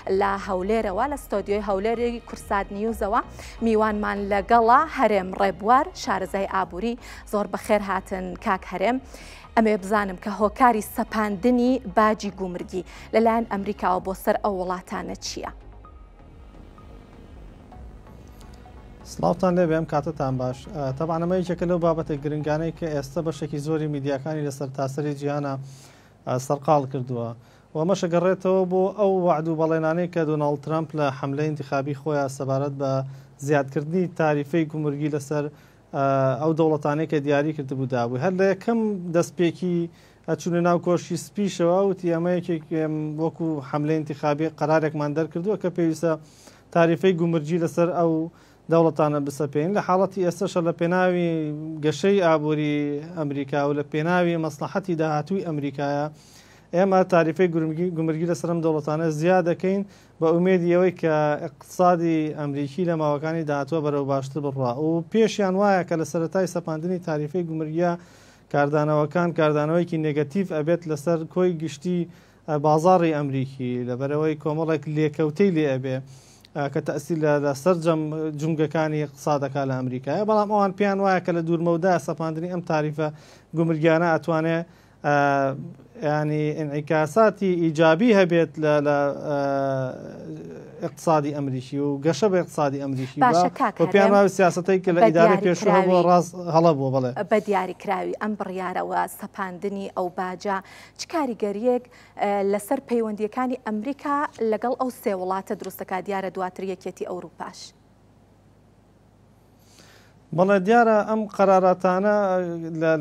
لە هەولێرەوە لە ستۆدیۆی هەولێری کورسات نیوزەوە میوانمان لەگەڵا هەرێم ڕێبوار شارەزای ئابووری زۆر بەخێر هاتن کاک هەرێم ئەمێ بزانم کە هۆکاری سەپاندنی باجی گومرگی لەلایەن ئەمریکاوە بۆ سەر ئەو وڵاتانە چییە؟ سلااوان لێ بێم کاتتان باش تەبانەمە یەکێکە لەو بابەتە گرنگانەی کە ئێستا بەشێکی زۆری میدیاکانی لەسەر تاسەری جیانە سەرقال کردووە و ئەمەش ئەگەڕێتەوە بۆ ئەو وەعد و بەڵێنانەی کە دۆناڵد ترەمپ لە حەملەی ئینتیخابی خۆیا سەبارەت بە زیادکردنی تاریفەی گومرگی لەسەر ئەو دەوڵەتانەی کە دیاری کردبوو دابووی هەر لە یەکەم دەستپێکی چوونە ناو کۆشکی سپیشەوە وتی ئەمە یەکێک وەکو حەملەی ئینتیخابی قەرارێکمان دەرکردووە کە پێویستە تاریفەی گومرگی لەسەر ئەو دەوڵەتانە بسەپێین لە حاڵەتی ئێستەشە لە پێناوی گەشەی ئابووری ئەمریکا و لە پێناوی مەسڵەحەتی داهاتووی ئەمریکایە ئێمە تاریفەی گومرگی لەسەر ئەم دەوڵەتانە زیا دەکەین بە ئومێدی ئەوەی کە ئیقتسادی ئەمریکی لە ماوەکانی داهاتووە بەرەو باشتر بڕوا و پێشیان وایە کە لە سەرەتای سەپاندنی تاریفەی گومرگییە کاردانەوەکان کاردانەوەیەکی نێگەتیڤ ئەبێت لەسەر کۆی گشتی بازاڕی ئەمریکی لەبەرئەوەی کۆمەڵێک لێکەوتەی لێ ئەبێ کە تەسیل لە لە سەررجەم جومگەکانی قسادەکە لە ئەمریکای بەڵام ئەوان پێیان وایە کە لە دوورمەودا سەپاندنی ئەم تاریفە گومرگیانە ئەتوانێ ینی ئینعیکاساتی ئیجابی هەبێت لە لە اقتصادی ئەمریکی و گەشە بە اقتصادی ئەمریکی پێیان وایە سیاستەی کە لە ئیدارە پێشوە بۆ ڕاست هەڵە بۆ بڵێ بە دیاری کراوی ئەم بڕیارەوە سەپاندنی ئەو باجە چ کاریگەرییەک لەسەر پەیوەندییەکانی ئەمریکا لەگەڵ ئەو سێ وڵاتە دروست دەکات، دیارە دواتر یەکێتی ئەوروپاش؟ بەڵێ دیارە ئەم قەراراتانە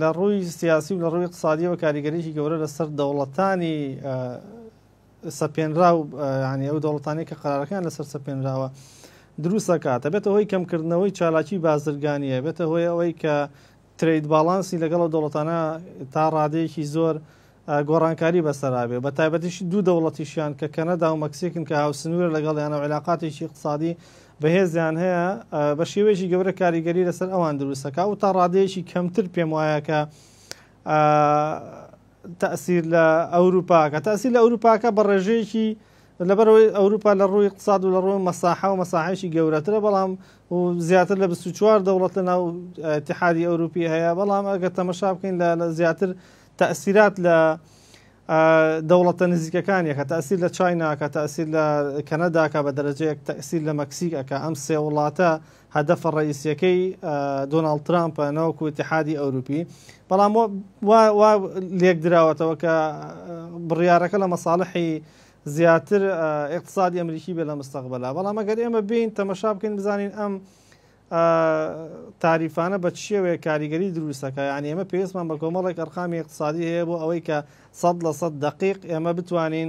لە ڕووی سیاسی و لە ڕووی اقتصادیەوە کاریگەریی گەورە لەسەر دەوڵەتانی سەپێنرا و ینی ئەو دەوڵەتانی کە قەرارەکان لەسەر سەپێنراوە دروستەکاتە بێتە هۆی کەمکردنەوەی چالاکی بازرگانیە بێتە هۆی ئەوەی کە ترەید باڵانسی لەگەڵ ئەو دەوڵەتانە تا ڕادەیەکی زۆر گۆڕانکاری بەسەرا بێ، بەتایبەتیش دوو دەوڵەتیشیان کە کەنەدا و مەکسیکن کە هاوسنوورە لەگەڵیانەوە عیلاقاتێکی ئیقتسادی بەهێزیان هەیە بە شێوەیەکی گەورە کاریگەری لەسەر ئەوان دروست دەکات و تا ڕادەیەکی کەمتر پێم وایە کە تەسیر لە ئەوروپاکە تەسی لە ئەوروپاکە بە ڕێژەیەکی لەبەرئەوەی ئەوروپا لە ڕووی اقتصاد و لە ڕووی مەساحە و مەساحەیەکی گەورەترە بەڵام و زیاتر لە 24 دەوڵەت لە ناو اتحادی ئەوروپی هەیە بەڵام ئەگەر تەمەشا بکەین لە زیاتر تەسیرات لە دەوڵەتە نزیکەکانیەکە تەسیر لە چایناکە تەسیر لە کەنەداکە بە دەرەجەیەک تەسیر لە مەکسیک ئەکە ئەم سێ وڵاتە هەدەفە ڕەئیسیەکەی دۆناڵد ترامپە نەوەکو اتحادی ئەوروپی بەڵام وا لێکدراوەتەوە کە بڕیارەکە لە مەساڵحی زیاتر اقتصادی ئەمریکی بێ لە مستەقبلا بەڵام ئەگەر ئێمە بین تەمەشا بکەین بزانین ئەم تاریفانە بە چیەوەیە کاریگەری دروستەکە یان ئێمە پێویستمان بە کۆمەڵێک ئەرقامی اقتصادی هەیە بۆ ئەوەی کە سەد لە سەد دقیق ئێمە بتوانین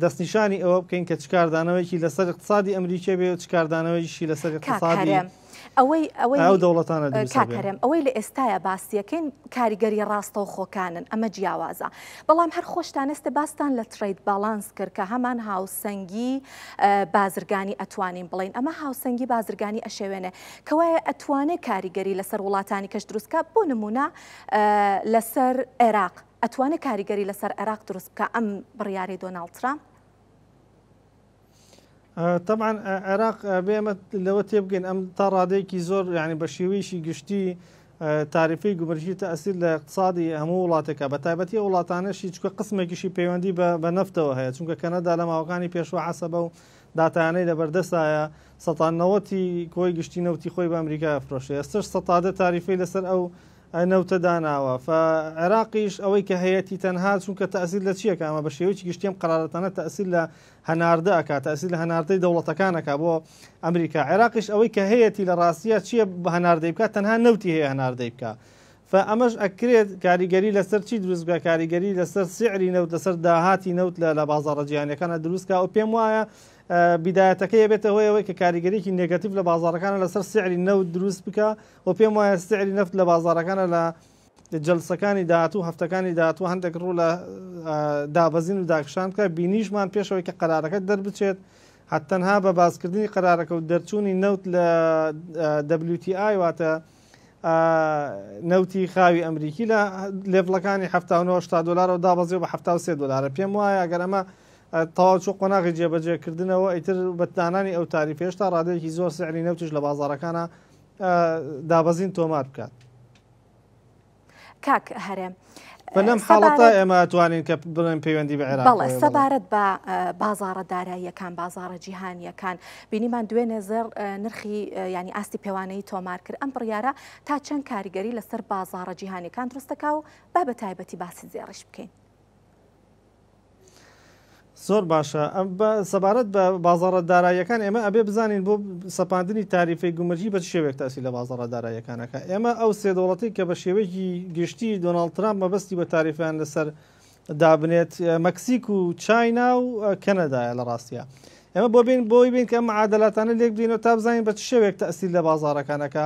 دەستنیشانی ئەوە بکەین کە چ کاردانەوەیەکی لەسەر اقتصادی ئەمریکیە بێ و چ کاردانەوەیشی لەسەر اقتصادی ئەو دەوڵەتانە کاکەرێم ئەوەی لە ئێستاە باسیەکەین کاریگەری ڕاستەو خۆکانن ئەمە جیاوازە بەڵام هەر خۆشتان ئێستە باستان لە ترید باڵانس کرد کە هەمان هاوسەنگی بازرگانی ئەتوانین بڵین ئەمە هاوسەنگی بازرگانی ئەشێوێنێ کەوایە ئەتوانێ کاریگەری لەسەر وڵاتانی کەش دروستکە بۆ نمونە لەسەر عێراق ئەتوانێ کاریگەری لەسەر عێراق دروست بکا ئەم بڕیاری دۆناڵد ترامپ؟ طبعا عێراق بێمە لەوە تێبگەین ئەم تا ڕادەیەکی زۆر یعنی بە شێوەیەشی گشتی تاریفی گومرکی تەسیر لە اقتصادی هەموو وڵاتەکە بە تایبەتی وڵاتانەشی چکە قسمێکیشی پەیوەندی بە نفتەوە هەیە چونکە کەنەدا لە ماوەکانی پێشوە عسەبە و داتانەی لە بەردەستایە سەتانەوەتی کۆی گشتی نەوتی خۆی بە ئەمریکا فرۆشە ئێستش سەتادە تاریفی لەسەر ئەو نەوتە داناوە فە عێراقیش ئەوەی کە هەیەتی تەنها چونکە تەسیر لە چیەکە ئەمە بە شێوەیەکی گشتیم قرارەتانە تەسیر لە هەناردە ئەکا تەسیر لە هەناردەی دەوڵەتەکانەکە بۆ ئەمریکا عێراقیش ئەوەی کە هەیەتی لە ڕاستە چیە بە هەناردەی بکە تەنها نەوتی هەیە هەناردەی بکە فە ئەمەش ئەکرێت کاریگەری لەسەر چی دروست بکە کاریگەری لەسەر سعری نەوت لەسەر داهاتی نەوت لە لە بازارە جیانەکانە دروستکە و پێم وایە بدایەتەکە یەبێتە هۆیەوەی کە کاریگەرێکی نگەتیف لە بازارەکانە لەسەر سعری نەوت دروست بکە وە پێم وایە سعری نەفت لە بازاڕەکانە لە جەلسەکانی داهاتوو هەفتەکانی داهاتوو هەندێک ڕوو لە دابەزین و داکشان بکە بینیشمان پێشەوەی کە قەرارەکە دەربچێت هەتەنها بە باسکردنی قەرارەکە و دەرچوونی نەوت لە WTI واتە نەوتی خاوی ئەمریکی لە لێڤڵەکانی 1970 دلارەوە دابەزی بە 1970 دلارە پێم وایە گەر ئەمە تەواو چۆ قۆناغی جێبەجێکردنەوە ئیتر بەتدانانی ئەو تاریف هێشتا ڕادێکی زۆر سعری نەوتیش لە بازارەکانە دابەزین تۆمار بکات. کاک هەرێم بەلەم حاڵەتە ئێمە توانین کە بڵێن پەیوەندی بە عێراق سەبارەت بە بازارە داراییەکان بازارە جیهانیەکان بینیمان دوێنێ زێر نرخی ینی ئاستی پێوانەی تۆمار کرد ئەم بڕیارە تا چەند کاریگەری لەسەر بازارە جیهانیەکان دروستەکە و با بە تایبەتی باسی زێڕش بکەین. زۆر باشە سەبارەت بە بازاڕە داراییەکان ئێمە ئەبێ بزانین بۆ سەپاندنی تاریفی گومرجی بە شێوێک تاسی لە بازاڕە داراییەکانەکە ئێمە ئەو سێ دەوڵەتی کە بە شێوەیەکی گشتی دۆناڵد ترامپ مەبەستی بە تاریفیان لەسەر دابنێت مەکسیک و چاینا و کەنەدایە لە ڕاستە ئێمە بۆ بین بۆی بین کە معادلاتانە لێک بینەوە تا بزانین بە شێوێک تاسی لە بازارەکانەکە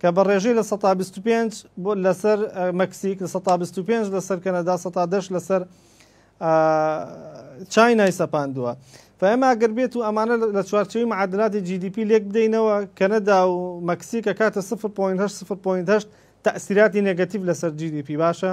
کە بە ڕێژەی لە سەتا بیست و پێنج بۆ لەسەر مەکسیک لە سەتا بیست و پێنج لەسەر کەنەدا سەتا دەش لەسەر چاینای سەپاندووە فەمە ئەگەر بێت و ئەمانە لە چوارچەوی معادلاتی GDP لێک بدەینەوە کەنەدا و مەکسیکە کاتە 0.8 تەسیراتی نگەتیف لەسەر GDP باشە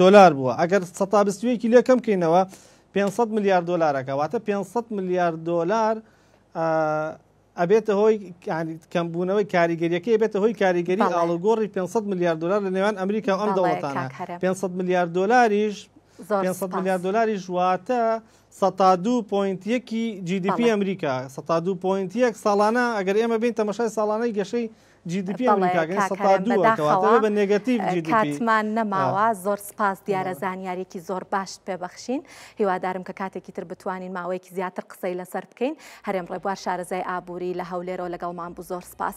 دۆلار بووە ئەگەر سەتا بیست و یەکی لێ کەم کەینەوە پێنج سەد ملیار دۆلارەکە واتە پێنج سەد ملیار دۆلار ئەبێتە هۆی کەمبوونەوەی کاریگەریەکەی بێتە هۆی کاریگەری ئاڵگۆڕی 500 میلیارد دلار لە نێوان ئەمریکا ئەم دەوڵەتانە 500 میلیارد دلاریش 500 میلیارد دلاریش واتە 102.1 جیدیپی ئەمریکا 102.1 ساڵانە ئەگەر ئێمە بین تەمەشای ساڵانەی گەشەی بەڵێ کاکەرەم بەداخەوە کاتمان نەماوە زۆر سپاس دیارە زانیارێکی زۆر باشت پێ بەخشین هیوادارم کە کاتێکی تر بتوانین ماوەیەکی زیاتر قسەی لەسەر بکەین هەرێم ڕێبوار شارەزای ئابووری لە هەولێرەوە لەگەڵمان بوو زۆر سپاس.